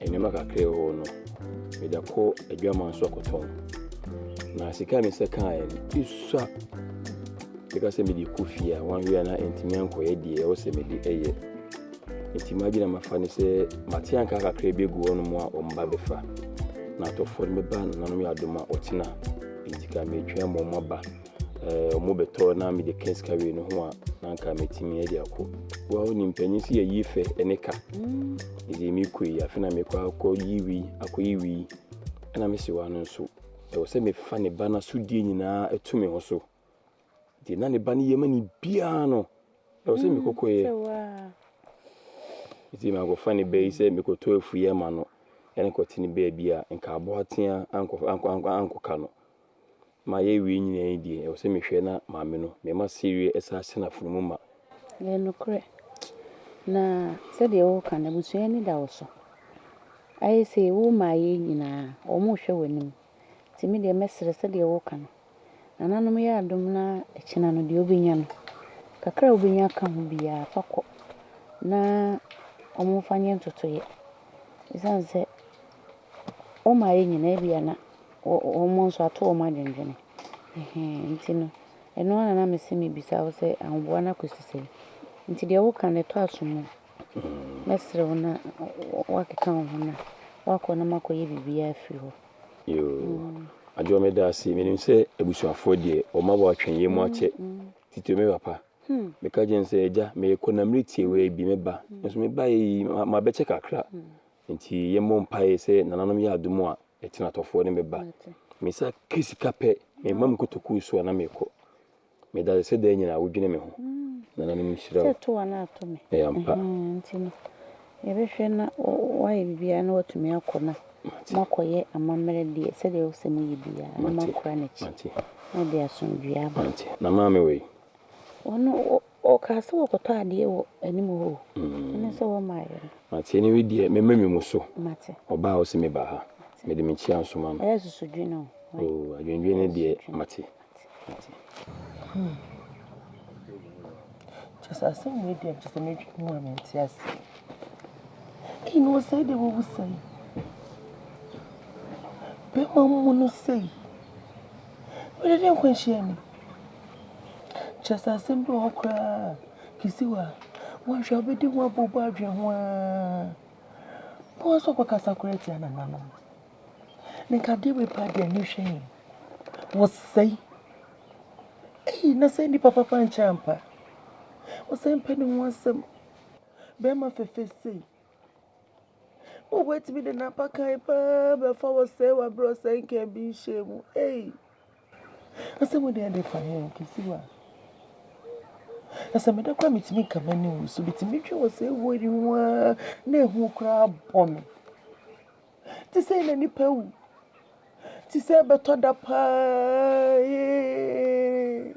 Nneɛma kakra a ɛwɔ no, mede kɔ adwaman so akɔtɔn. Na sika a mesɛ kaeɛ no, esua meka sɛ mede kɔ fie a wɔn a na ɛntumi ankɔyɛ deɛ ɛwɔ sɛ mede ɛyɛ. Nti m'adwene a mafa ne sɛ mate anka kakra bi agu hɔnom a wɔn ba bɛfa. Na atɔfoɔ no bɛba nananom yɛ adom a wɔtena. Nti ka metwɛn ma wɔn aba. wɔn bɛtɔ na mede ka sika wei no ho a na anka mɛtumi de akɔ wɔn ne mpanyin si yɛyi fɛ ɛne ka ɛdi mm. mekɔ yi afei na mekɔ akɔ yi wi akɔ yi wi ɛna mesi wa no nso ɛwɔ sɛ mefa ne ba no asodie nyinaa ɛto me ho so deɛ na ne ba no yɛ ma ne biara no ɛwɔ sɛ mm, mekɔkɔ yɛ ɛti makɔfa ne ba yi sɛ mekɔtɔ afuiɛ ma no ɛne kɔte ne baabi a nka aboa tea ankɔka no ma yɛawie nyinaa yi deɛ, ɛwɔ sɛ mehwɛ na maame no, mema sereɛ ɛsan hyɛ n'afono mu ma. Ɛyɛ nokorɛ. Na sɛdeɛ woka no, abusua ani da wo so. Ayɛ sei, wo mmaeɛ nyinaa, wɔrehwɛ w'anim. Nti me deɛ mɛsrɛ sɛdeɛ woka no, nananom yɛ adom na akyina no deɛ wobɛnya no, kakra a wobɛnya aka ho biara, fa kɔ na wɔmfa nyɛ ntotoeɛ. Ɛsiane sɛ. Wɔn a yɛn nyinaa bi a na wɔn nso ato wɔn adwendwene. Ɛhɛn, nti no, ɛno ara na na mese mebisa wo sɛ ahoboa no akɔsi sɛn. Nti deɛ woka no ɛtɔ asom o. Mɛsrɛ wo na woakeka wo ho na woakɔ na moakɔyɛ biribiara afiri hɔ. Yoo, Adwoa medaase. Menim sɛ abusuafoɔ deɛ wɔn aboa atwɛn yɛn mu akyɛ. Titire me papa. Meka kyerɛɛ no sɛ, Agya, merekɔ na meretie wo ara bi, mɛba. Nanso mebaeɛ yi, mabɛkyɛ kakra. Enti yɛmmɔ mpaeɛ sɛ nananom yɛ adom a, atenatɔfoɔ ne me ba. Me nsa ka sika pɛ, mema me kotokuo so a na mekɔ. Meda ase sɛ daa nyinaa wodwene me ho. Nananom nhyira wo. Ɛyɛ ampa. Nti no, yɛbɛhwɛ na woayɛ biribiara na woatumi akɔ na moakɔyɛ amammerɛ deɛ, sɛdeɛ wopɛ sɛ moyɛ biara, na moakora no akyi, na ɛde asomdwoeɛ aba. Na maame wei? Ɔno, Ɔkaa sɛ wɔkɔtɔ adeɛ wɔ anim hɔ o, ɛno nso wɔmmaeɛ no. Mate, ɛne wei deɛ mɛma me mu so. Mate. Ɔbaa ɔse me ba ha. Mate. Mede me kyia nsoma no. Ɛyɛ susudwene o. Oo, adwendwene no deɛ mate. Mate. Hmm. Kyɛ sɛ asɛm wei deɛ kyɛ sɛ medwene mu a mente ase. Kii na ɔsɛe deɛ wawu sɛe. Bɛma mu no sɛe. Wede de nkwanhyia ni. Kyerɛ sɛ asɛm bi wɔ hɔ koraa a, Kisiwa, woanhwɛ a wobɛdi ho abooboo adwene ho ara. Boa wo sɛ wobɛkasa koraa tia nananom. Ne nka adeɛ wei paa deɛ ani hwɛ yɛn. Wɔsɛe. Ei, na sɛ nnipa papa nkyɛ ampa. Wɔsɛe mpɛ ne ho asɛm. Bɛrima fɛfɛ sei. O woatumi de n'abakan paa bɛfa wɔsɛe wɔ aberɛ a ɔsɛe nka ebi nhyɛɛ mu. Ei. Asɛm wei deɛ ɛfa he o, kɛsi wo a? Na sɛ meda koraa metumi nka m'ani nwu so bi nti metwe wɔ saa awuo yi ho ara na ehu koraa bɔ me. Te sei na nipa awu. Te sɛ ɛbɛtɔ da paa ee.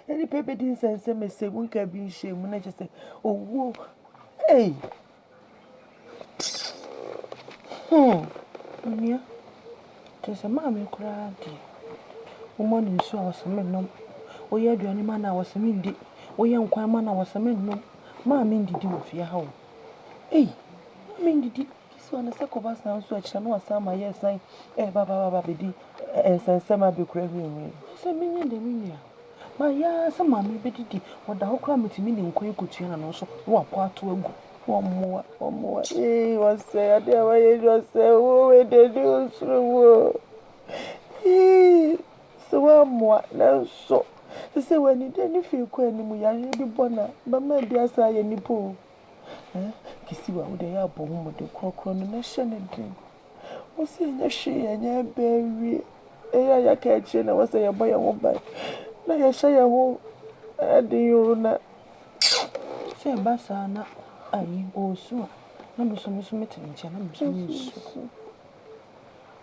Na nipa bedi nsɛnsɛm ɛsɛ mu nka bi nhyɛ mu na kyerɛ sɛ owuo ei hmm onua kyerɛ sɛ maame koraa deɛ woma no nsuo a wɔsɛ me nom woyɛ aduane ma no a wɔsɛ me ndi woyɛ nkwan ma no a wɔsɛ me nom maame ndidi wɔ fie ha o ei maame ndidi Gye sɛ ɔno sɛ kɔba saa nso akyire na wasan ma yɛresan reba ba ba bɛdi nsɛnsɛm a bɛkura hwiinwii. Gye sɛ menya deɛ me nua. Mayɛ ara sɛ maame bɛdidi. Ɔda hɔ koraa mɛtumi de nkwan kɔtua n'ano so na wapɔ ato agu. Wɔmmoa, wɔmmoa ee wɔsɛe adeɛ a wɔayɛ yi ɔsɛe oo wei deɛ ɛde ɔsoro oo ee sɛ wɔammoa nanso sɛ sɛ wɔanidi ani fii kɔ anim yareɛ bi bɔ no a bɛma bi asan ayɛ nnipa oo. Eh, Kisiwa, wo deɛ yɛ abɔ wo mmɔden korɔkorɔ no na hyɛ ne den. Wo sɛ ɛnyɛ hwee ɛnyɛ ɛbɛ awie. Ɛyɛ a yɛaka akyire na wɔ sɛ yɛbɔ yɛn ho ban. Na yɛhyɛ yɛn ho ɛden o na. Sɛ ɛba saa na ayi, ɔresu a, na me nso me nso mete ne nkyɛn na me nso meresu.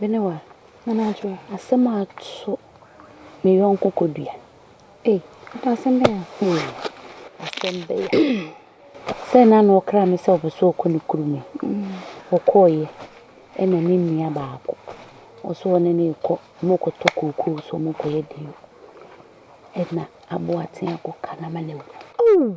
Me ne wa, Nana Adwoa. Asɛm a ato me yɔnko Kɔdua. Ei, Ada asɛm bɛn a? Ei, asɛm bɛn a? Sɛ na na ɔkra me sɛ ɔpɛ sɛ ɔkɔ ne kurom yi. Ɔkɔeɛ ɛna ne nua baako. Ɔsɛ ɔne no rekɔ, wɔrekɔtɔ kookoo so wɔrekɔyɛ deɛ o. Ɛna aboɔaten akɔka no ama no awu. Ow!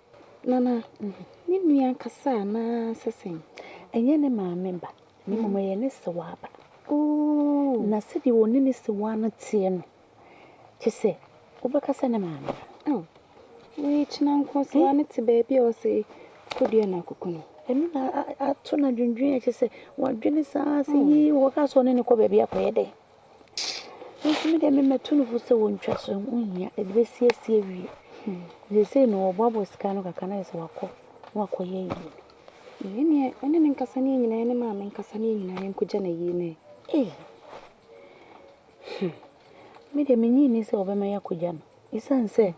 Nana, Ne nua ankasa anaa sɛ sɛn? Ɛnyɛ ne maame ba, na mmom ɛyɛ ne sewaa ba. Ooh! Na sɛdeɛ ɔne ne sewaa no teɛ no, kyɛ sɛ wobɛka sɛ ne maame ba. Oh, wei kyena nko sewaa no te baabi a ɔsɛ kɔdua no akoko no. Ɛno na ato no adwendwen a kyɛ sɛ wadwene saa sɛ yii wɔka sɛ ɔne ne kɔ baabi akɔyɛ dɛn. Me nso me deɛ me mɛto no fo sɛ wɔntwa so ɛho hia ɛde bɛsiesie awie seesei no wɔboaboa sika no kakra no ayɛ sɛ wakɔ na wakɔyɛ ayie no yei deɛ ɛne me nkasa ne yɛn nyinaa yɛne maame nkasa ne yɛn nyinaa yɛnkɔgya no ayie no ei me deɛ mennye nni sɛ wɔbɛma yɛakɔgya no Esiane sɛ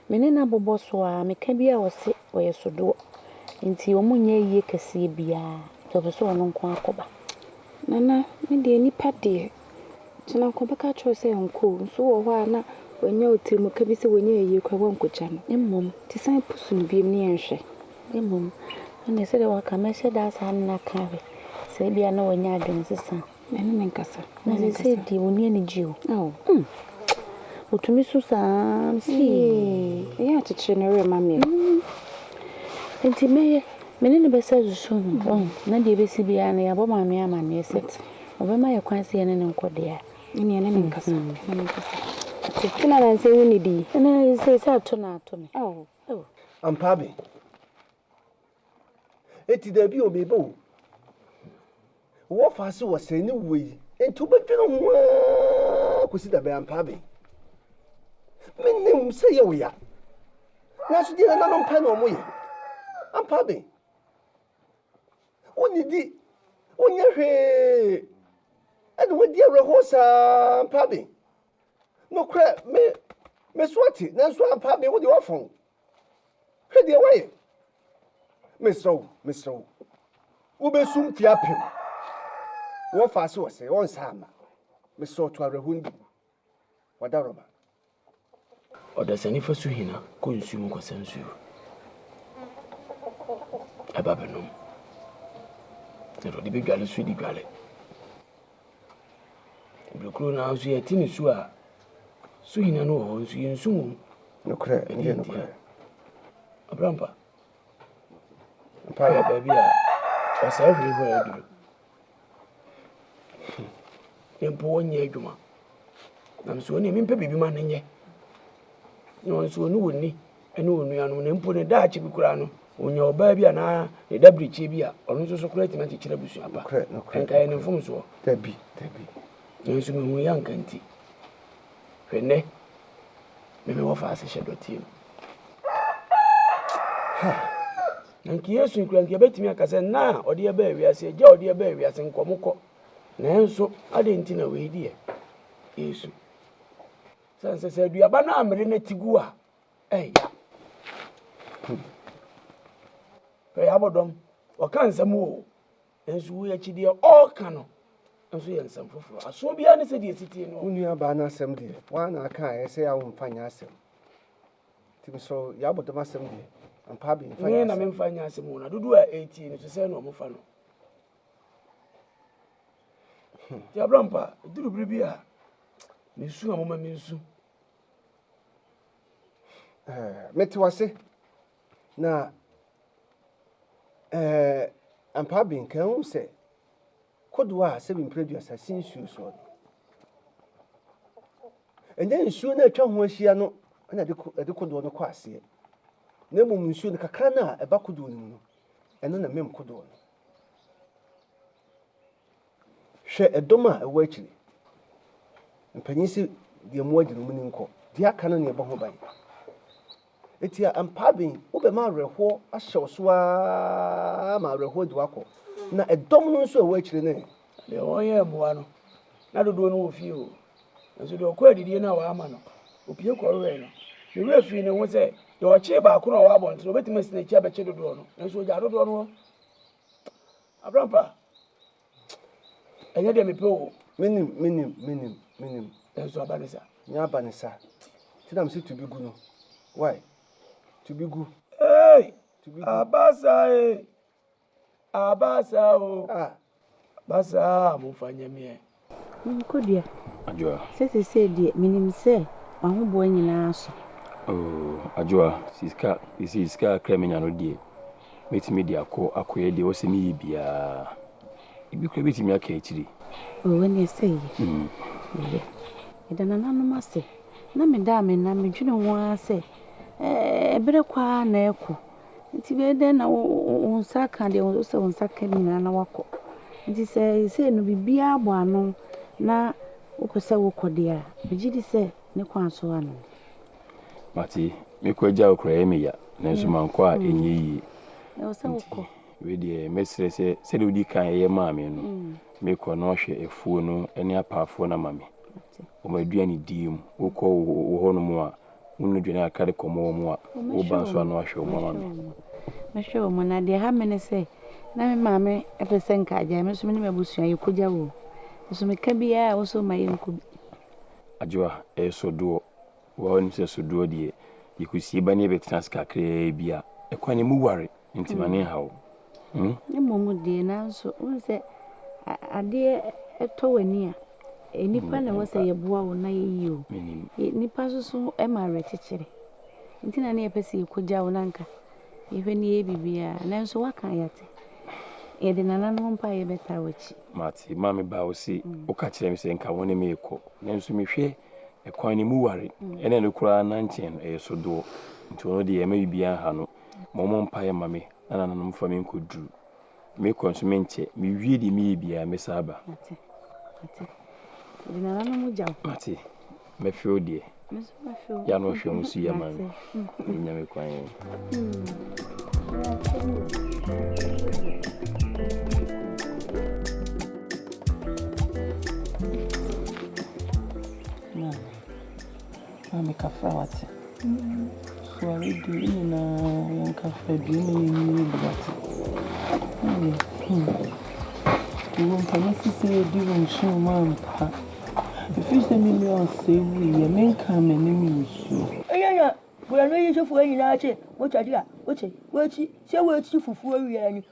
me ne no abobɔ so ara, meka bi a ɔse ɔyɛ sodoɔ nti wɔnnyɛ ayie kɛseɛ biara nti ɔpɛ sɛ ɔno nko ara kɔba. Nana, me deɛ nipa deɛ, gyina nka ɔbɛka akyerɛ wo sɛ nkɔ o, nso wɔ hɔ a na wanya otirimuka bi sɛ wɔnnyɛ ayie koraa woankɔgya no. Mmom, nti san pusu no biom ne yɛnhwɛ. Mmom, ɛnneɛ sɛdeɛ waka, mɛhyɛ da asan ne no aka ahwɛ sɛ ebia na wanya adwensesa. Ɛne me nkasa. Na seesei deɛ ɔnni anigyeɛ o. Ao. Mm. Ɔtumi su saa Ee, ɛyɛ akyekyere ne werɛ ma meɛ. Mm. Enti mɛyɛ, me ne no bɛsa zusu ho, wahu, na deɛ ɛbɛsi biara no yɛabɔ maame amanneɛ sɛ ɔbɛma yɛ kwan sɛ yɛne no nkɔ deɛ a. Ɛne ɛne me nkasa. Mm. Ɛne me nkasa. Te, te na nansa ɛwu ne di. Ɛne seesei ato na ato me. Ao. Ao. Ampa abe. Enti dabi o, meba o. Wɔ fa ase wɔ sɛn ne wɔ yi? Enti wobɛdwene ho ara kɔsi da bɛn ampa abɛn? Menim sɛ yɛ wo ya, nanso deɛ nananom pɛ na wɔyɛ ampa abɛn. Wonnidi, wonyɛ hwee, ɛna wadi awerɛhoɔ saa ampa abɛn. Nokorɛ me, me so ate, nanso ampa abɛn wo deɛ woafɔn. Hwɛ deɛ woayɛ! Mesrɛ wo, mesrɛ wo, wobɛsu mfeɛ apem. Wɔfaa se ɔsɛe, ɔnsa amma. Mesrɛ wo, to awerɛhoɔ no bi gu. Wada rɔba. Ɔdasani fa su hina kɔ nsuo mu kɔsa nsuo ba bɛnom, na deɛ ɔde bɛdwale nso de dwale. Bere koro no ara nso yɛte nsu a su hina no wɔ hɔ nso yɛn nsu wom. Nokorɛ, ɛyɛ nokorɛ. Abrampa, mpa yɛ baabi a ɔsɛe hwee hɔ yɛ duru. Ne mpo wɔnyɛ adwuma. Nam so ɔne mempɛ biribi ma no nyɛ. Na wɔn nso wɔne wɔn ni. ne onuanom, na mpo ne daakye bi koraa no, onya ɔbaa bi anaa ne daberekyie bi a, ɔno nso so koraa tumi akyekyere abusua pa. Ɛnka yɛ ne mfomsoɔ. Dabi, dabi. Nanso mehu yɛ anka nti. Hwɛ nnɛ, me mewɔ faase hyɛ dɔteɛ mu. Na nka Yesu nkura nka yɛbɛtumi aka sɛ nna a ɔde ɛbaa wiase, agya a ɔde ɛbaa wiase nkɔmokɔ. Nanso, adɛn nti na wei deɛ Yesu? Sɛ nsɛ sɛ aduaba no ammere na ti gu a, Eya hmm Hwɛ yɛn abɔdɔm, ɔka nsɛm o, nso wo akyi deɛ ɔreka no nso yɛ nsɛm foforɔ. Asoɔ biara ne sɛdeɛ ɛsi tie no. Wo nua baa no asɛm deɛ, woa na aka a ɛsɛ a womfa nyɛ asɛm. Nti mesrɛ wo, yɛn abɔdɔm asɛm deɛ, ampa abi mfa nyɛ asɛm. Me na memfa nyɛ asɛm o, na dodoɔ a ɛretie no so sɛ na wɔfa no. Nti abrampa, ɛduru bere bi a, mesu a moma mensu. Eh, mete wase. Na eh, ampa bi nka ehu sɛ kodoɔ a sɛbi mpere aduasa si nsuo soɔ no. Ɛnyɛ nsuo no atwa ho ahyia no na ɛde kodoɔ no kɔ aseɛ. Na mmom nsuo no kakra no a ɛba kodoɔ no mu no, ɛno na mmem kodoɔ no. Hwɛ dɔm a ɛwɔ akyiri. Mpanyin se deɛ moa gye no muni nkɔ, deɛ aka no na yɛbɔ ho ban. Eti a mpaa ben wobɛma awerɛhoɔ ahyɛ wo so ara ma awerɛhoɔ de wo akɔ, na ɛdɔm no nso a ɛwɔ akyire no ɛ? Na deɛ wɔyɛɛ mmoa no, na dodoɔ no wɔ fie o, nanso deɛ ɔkɔɔ adidie no a wɔamma no, ɔpue kɔwewee no. Ne werɛ firii ne ho sɛ deɛ ɔkyee baako no a ɔwɔ abɔnten no, ɔbɛtumi asi n'akyi abɛkye dodoɔ no, nanso ɔgyaa dodoɔ no hɔ. Abrampa, ɛnyɛ deɛ mepɛ o. Menim, menim, menim, menim. Nanso aba ne sa. Nyɛ aba ne sa. Nti na mese to bi gu no. Wai, to bi gu. Eei! Aba sa e! Aba sa o! Ah! Aba sa a, momfa nyɛ meɛ. Ɔhene Kodua, Adwoa. Sesesei deɛ menim sɛ w'ahoboa nyinaa aso. Oh, Adwoa, sika, sesei sika kakra menya no deɛ, mɛtumi de akɔ akɔyɛ deɛ ɛwɔ sɛ meyɛ biara. Ebi koraa bɛtumi aka akyiri. Oh, ɛneɛ sɛ yɛ. Mm. Yɛ. Meda nananom ase. Na meda a mena medwene ho ara sɛ, ɛɛ, berɛ kɔ ara na ɛkɔ. Nti bɛyɛ dɛn na wo nsa aka deɛ wo sɛ wo nsa ka nyinaa na wakɔ nti sɛ sei no biribiara bɔ ano na wopɛ sɛ wokɔ deɛ a megye di sɛ ne kwan so ano mate mekɔ agya wo kora ɛyɛ me ya nanso mm. mankɔ a mm. ɛnyɛ yie wedeɛ mɛsrɛ sɛ sɛdeɛ wodi kan ɛyɛ maa me no mm. mekɔ na ɔhwɛ afuo no ne apaafoɔ no ama me wɔn aduane die mu wokɔ wɔ hɔnom a wo nnu dwene a kari kɔmɔ wɔ mu a, woba nso a na wahwɛ wo mu ama me. Mɛhwɛ wo mu, na deɛ ɛha me ne sɛ, na me maame pɛ sɛ nka agyae me nso me ne m'abusua yɛkɔgya wo. Nso meka biara a, wo nso woma yɛnkɔ bi. Adwoa, ɛyɛ sodoɔ. Wo ara wonim sɛ sodoɔ deɛ, yɛkɔsie ba na yɛbɛtena ase kakraa bi a, ɛkwan no mu ware. Nti m'ani nha wo. Mmom deɛ nanso wohu sɛ adeɛ tɔ w'ani a, nnipa na ɛwɔ sɛ yɛboa wo na yɛyi o. Nnipa nso so ma awerɛkyekyerɛ. Nti na ne yɛpɛ sɛ yɛkɔgya wo na nka yɛhwɛ ne yɛyɛ biribiara. Nanso woaka a yɛate. Yɛde nananom mpo a yɛbɛtaa w'akyi. Mate. Maa mebaa wo se woka kyerɛɛ me sɛ nka wo ne me rekɔ. Nanso mehwɛ ɛkwan no mu ware. Ɛna ɛno koraa na nkyɛ no ɛyɛ sodoɔ. Nti ɔno deɛ ɛmma biribiara nha no. Mommɔ mpaeɛ mma me na nananom mfa me nkɔduru. Mekɔ nso menkyɛ, mewie deɛ meyɛ biara mɛsan aba. Mate. Mate. Di nananom gya o. Mate. Mɛfew deɛ. Me nso mɛfew. Yɛ ano hwɛ ho si yɛ man. Mate. Nyame kwan yɛn. Maame kafra wate. Sɔre di yɛn nyinaa yɛn kafra due na yɛn nyi yɛn bi wate. Maame hmm. Wo mpa me si sɛ yɛdi wo nkyɛn mu ampa. Ɛfiri sɛ me nua ɔsɛe wuiɛ me nka m'anim nsuo. Ɛyɛ na Borɔno yi sofoɔ nyinaa kye wo kyɛde a wote w'akyi sɛ woakyi fufuo wia ni.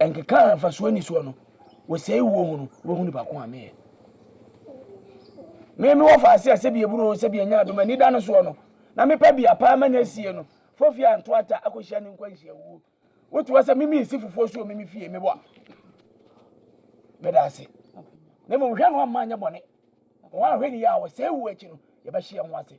Ɛnkeka a mfasoɔ nni soɔ no, wɔsɛe wuo ho no, wɔahu nipa ko a meyɛ. Me mewɔ faase a sɛbi ɛburo o, sɛbi ɛnyɛ adom, anida no soɔ no, na mepɛ bea paa ma no asie no, fofie a ntoata akɔhyia ne nkwanhyia wuo. Wote hɔ sɛ me mensi fufuo so wɔ me me fie, mebɔ a. Meda ase. Na mmom hwɛ no amma anyɛ bɔne. Wɔn a hwɛ ne yɛ a wɔsɛe wuo akyi no, yɛbɛhye yɛn ho ase.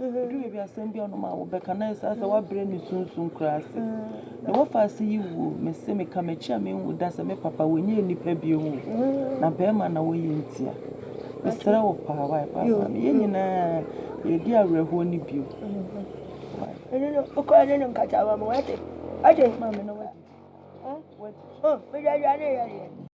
Ɛduru baabi a asɛm biara ɔnom a wobɛka na ayɛ saa sɛ woabrɛ ne sunsum koraa ase. Deɛ woafa ase yi wuo, mese meka m'akyi a menwu da sɛ me papa wɔnyɛɛ nnipa bio o, na bɛrima na wɔyɛ ntia. Mesrɛ wo paa wai paa paa me yɛn nyinaa yɛredi awerɛhoɔ no bio. Ɛno no wokɔɛ ne no nkata wɔ mo wate wate. Maame na wadi. Wadi. Oh, mede aduane yɛ deɛ.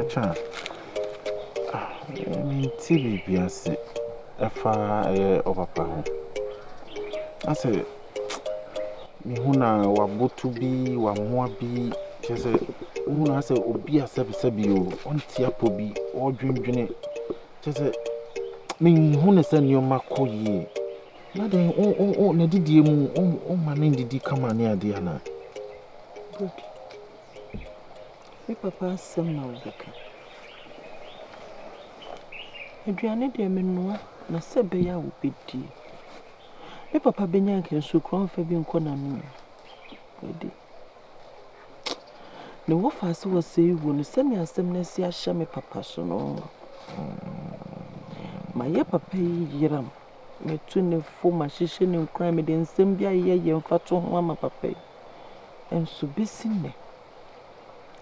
Ɛtwa a, mente biribi ase ɛfa ɛyɛ ɔpapa ho. Na sɛ mehu no a, waboto bi, wamoa bi, kyerɛ sɛ wohu no ara sɛ obi asɛbisɛbi o, ɔnte apɔ bi, ɔredwendwene, kyerɛ sɛ menhu no sɛ nneɛma kɔ yie. Na dɛn o o o n'adidie mu o o ma no nnidi kama ne adeɛ anaa? Good. Me papa asɛm na wobɛka. Aduane deɛ menoa na sɛ ɛbɛyɛ a wobɛdi. Me papa bɛnya anka nsuo koraa ɔmfa bi nkɔ n'ano o. Daabi. Ne wɔfa sɛ ɔsɛe wuo no, sɛdeɛ asɛm no asi ahyɛ me papa so no, mayɛ papa yi yeram. Matu ne fo, mahyehyɛ ne nkuran, mede nsɛm bi a ɛyɛ yie mfatoho ama papa yi. nso besi nnɛ.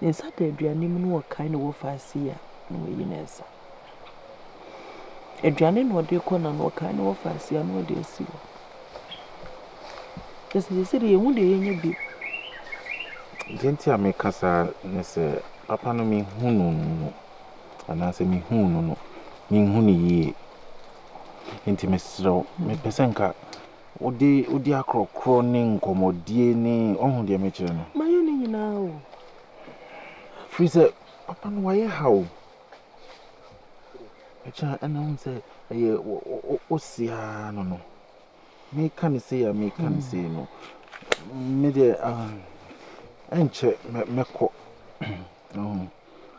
Ne nsa da aduane mu na ɔkae ne wɔfaa sei a, na wayi ne nsa. Aduane na ɔde kɔ na na ɔkae ne wɔfaa sei a, na ɔde asi hɔ. Kyerɛ sɛ sɛsɛ deɛ yɛhu deɛ yɛnyɛ bi. Deɛ nti a meka saa ne sɛ papa no mehu no no anaasɛ mehu no no menhu no yie nti mesrɛ wo mepɛ sɛ nka Wode wodi akorɔkorɔ ne nkɔmmɔdie ne woahu deɛ mekyerɛ no? Mayɛ ne nyinaa o. Firi sɛ papa no wayɛ ha o. Ɛkyɛ a ɛna wohu sɛ ɛyɛ wo seaa no no. Meka ne sei a meka ne sei no me deɛ ah, ɛnkyɛ mɛkɔ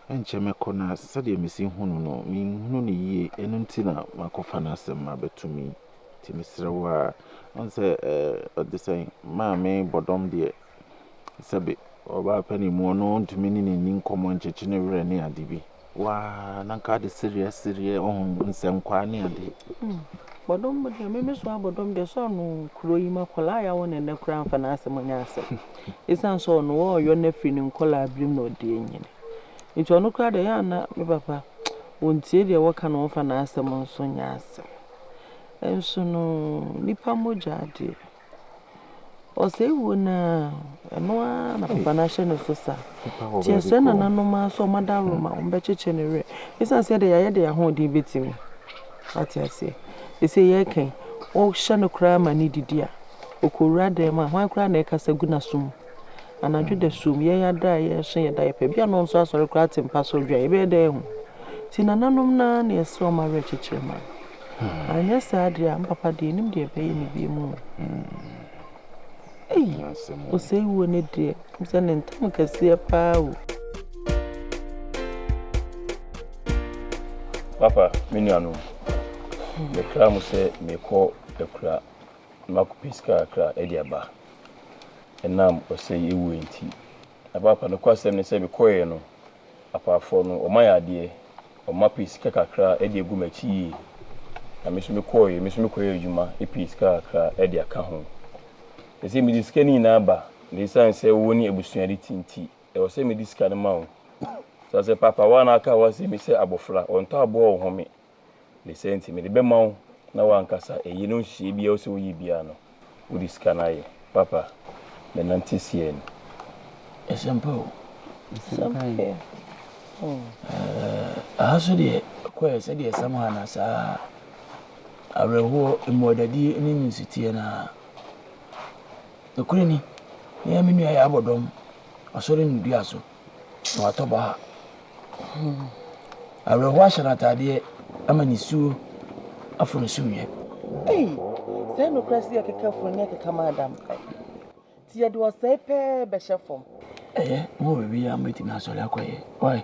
ɛnkyɛ mɛkɔ na sɛdeɛ mesi hunu no menhunu no yie ɛno nti na makɔfa no asɛm abɛto me Nti mesrɛ wo ara, wohu sɛ ɔte sɛn, maame bɔdɔm deɛ sɛbe ɔbaa panin mu, ɔno ɔntumi ne n'ani nkɔmmɔ nkyekye ne werɛ ne ade bi. Waa, na nka ade sereɛ sereɛ, ɔho nsɛnkwaa ne ade. Hmm, bɔdɔm deɛ meme so abɔdɔm deɛ sɛ ɔno kuro yi ma kɔlaa yɛawo ne nnɛ koraa mfa n'asɛm nyɛ asɛm. Ɛsiane sɛ ɔno wɔɔyɔ no afiri ne nkɔlaa birim na ɔde anyini. Nti ɔno koraa deɛ yɛ ana me papa, wɔntie deɛ wɔka na wɔmfa n'asɛm nso nyɛ asɛm. Nso no nipa mogya deɛ, ɔsɛe wuo no ara, ɛno ara na papa no ahyɛ ne so sa. Nti ɛsɛ nananom ara sɛ wɔada aworɔ ma wɔbɛkyekyɛ ne werɛ. Ɛsiane sɛ deɛ yɛayɛ deɛ yɛn ahoɔden bɛtumi. Ate aseɛ. Ɛsɛ yɛreka yi, wohyɛ no koraa ma no didi a, ɔkɔwura dan mu a, hwan koraa na ɛkasa gu n'aso mu? Anadwo dasuom, yɛn ada a yɛrehyɛ yɛn diaper, ebia na ɔnso asɔre koraa te mpa so redwan. Yɛbɛyɛ dɛn ahu? Nti nananom no ara na ɛsɛ wɔn awerɛkyekyerɛ ma no. Anyɛ saa deɛ a, me papa deɛ nnim deɛ ɛbɛyɛ me bio mu o. Ei, osei wuo no deɛ, wonim sɛ ne ntam kɛseɛ paa o. Papa, me nuanom, mekra mo sɛ mekɔ akura na makɔpɛ sika kakra de aba. ɛnam ɔsɛe awuo nti. Na paapa nokwasɛm ne sɛ mekɔeɛ no, apaafoɔ no, wɔma yɛ adeɛ, wɔma pɛ sika kakra de agu m'akyi yie. Na me nso mekɔeɛ, me nso mekɔyɛɛ adwuma pɛɛ sika kakra de aka ho. Ɛsɛ sɛ mede sika no nyinaa ba, na ɛsiane sɛ wo ne abusua de te nti, ɛwɔ sɛ mede sika no ma wo. Saa sɛ, paapa, wo a na aka w'asɛm yi sɛ abɔfra, wɔntɔ aboa wɔhome, ne sɛ nti mede bɛma wo na w'ankasa ɛyi no nhyehyɛeɛ biara wosɛ woyɛ biara no wode sika no ayɛ papa me nante seɛ ni ɛsɛ mpa o ɛsɛ mpa yɛ aha so deɛ kɔɛ sɛdeɛ ɛsɛm ha na saa awerɛhoɔ mmuadadie ne nsuteɛ no a nokorɛ ni ne ɛme nua yɛ abɔdɔm asɔre no dua so na watɔ baha. Awerɛhoɔ ahyɛ no ataadeɛ ama nisuo afɔ ne sumiiɛ. Ei, sɛ nokorɛ sɛ yɛkeka funu ne yɛkeka ma adam kae. Nti yɛde ɔsɛe pɛɛ bɛhyɛ fam. Ɛyɛ, mo wɔ biribi a mobɛtumi asɔre akɔyɛ. Ɔe,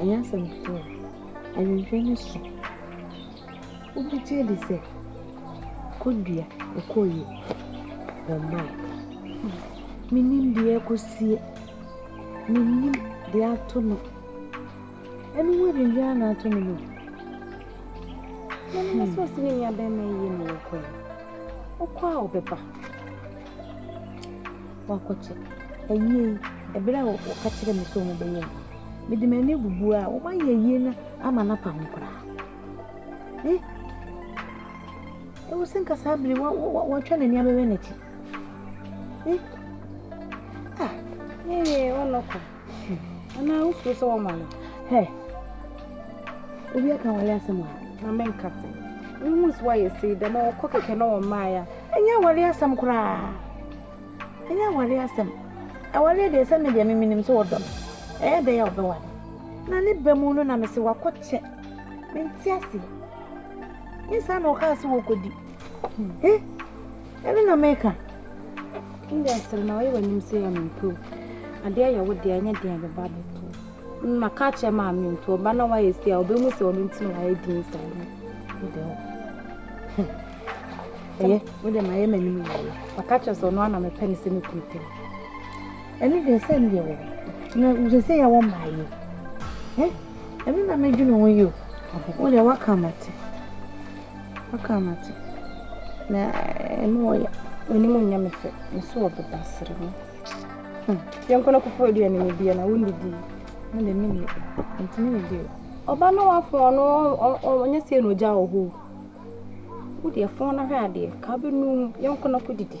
Ɛnyɛ asɛm ketewa. Awɛmfoɔ no so. Wobɛgye adi sɛ kɔdua ɛkɔɔyie wɔ mmaa. Menim deɛ ɛkɔsie. Menim deɛ ato no. Ɛno ho adwindwaa na ato no no. Mɛnɛ sɛ ɔsi ne nua bɛrima yie na wɔkɔ yi. Ɔkɔ a ɔbɛba. wɔakɔkyɛ. Awiei, bere a wɔka kyerɛɛ me sɛ wɔbɛyɛ no, mede m'ani bubuui a wɔayɛ awie no ama no apa ho koraa. Eh, ɛwɔ sɛ nka saa bere wa wa watwa n'ani abɛwɛ n'akyi. Eh, ah. Yɛyɛ ɔnɔkɔ. Ana wofuro sɛ wɔma no? Hɛ, obi aka wale asɛm a? Na menka se. Wohu sɛ woayɛ sei dɛm a wɔkɔ kɛkɛ na wɔmmaa ya. Ɛnyɛ awale asɛm koraa. Ɛnyɛ awale asɛm. Awale deɛ sɛ me deɛ memenim sɛ wɔdɔ me. Ɛyɛ dɛn a wɔbɛwale? Na ne ba mu no na mese wakɔkyɛ. Mente aseɛ. Nyɛ saa na wɔkaa sɛ wɔkɔdi. Hmm. Eh? Ɛno na meka. Ndɛ sere na ɔyɛ w'anim sɛ yɛ mempɛw. Adeɛ yɛ wo deɛ ɛnyɛ deɛ bɛba abɛto. Mma ka kyerɛ maame nto ɔba na wayɛ si a ɔbɛhu sɛ ɔno nti na wayɛ din saa no. Ndɛ hɔ. Ɛyɛ. Mo deɛ mayɛ m'anim yie. Ɔka kyerɛ sɛ ɔno ana mepɛ ne sɛ mekunu pɛ. Ɛno deɛ sɛ ndeɛ wɔ. Na wosɛ sɛ yɛwɔ mmaa yi. Ɛno na medwene ho yi o. Wo deɛ waka mate. Waka ama te na ɛno ɔya onim ɔnya me fɛ me so ɔbeba sere mu hmm. yɛnkɔ no kɔfɔ aduane ne bia na wonnidi na de me ne ntumi ne bio ɔba no wafo ɔno ɔnyɛ sɛ na ɔgya wɔ hɔ wodeɛ fon no hwɛ adeɛ ka bɛnu yɛnkɔ no kɔdidi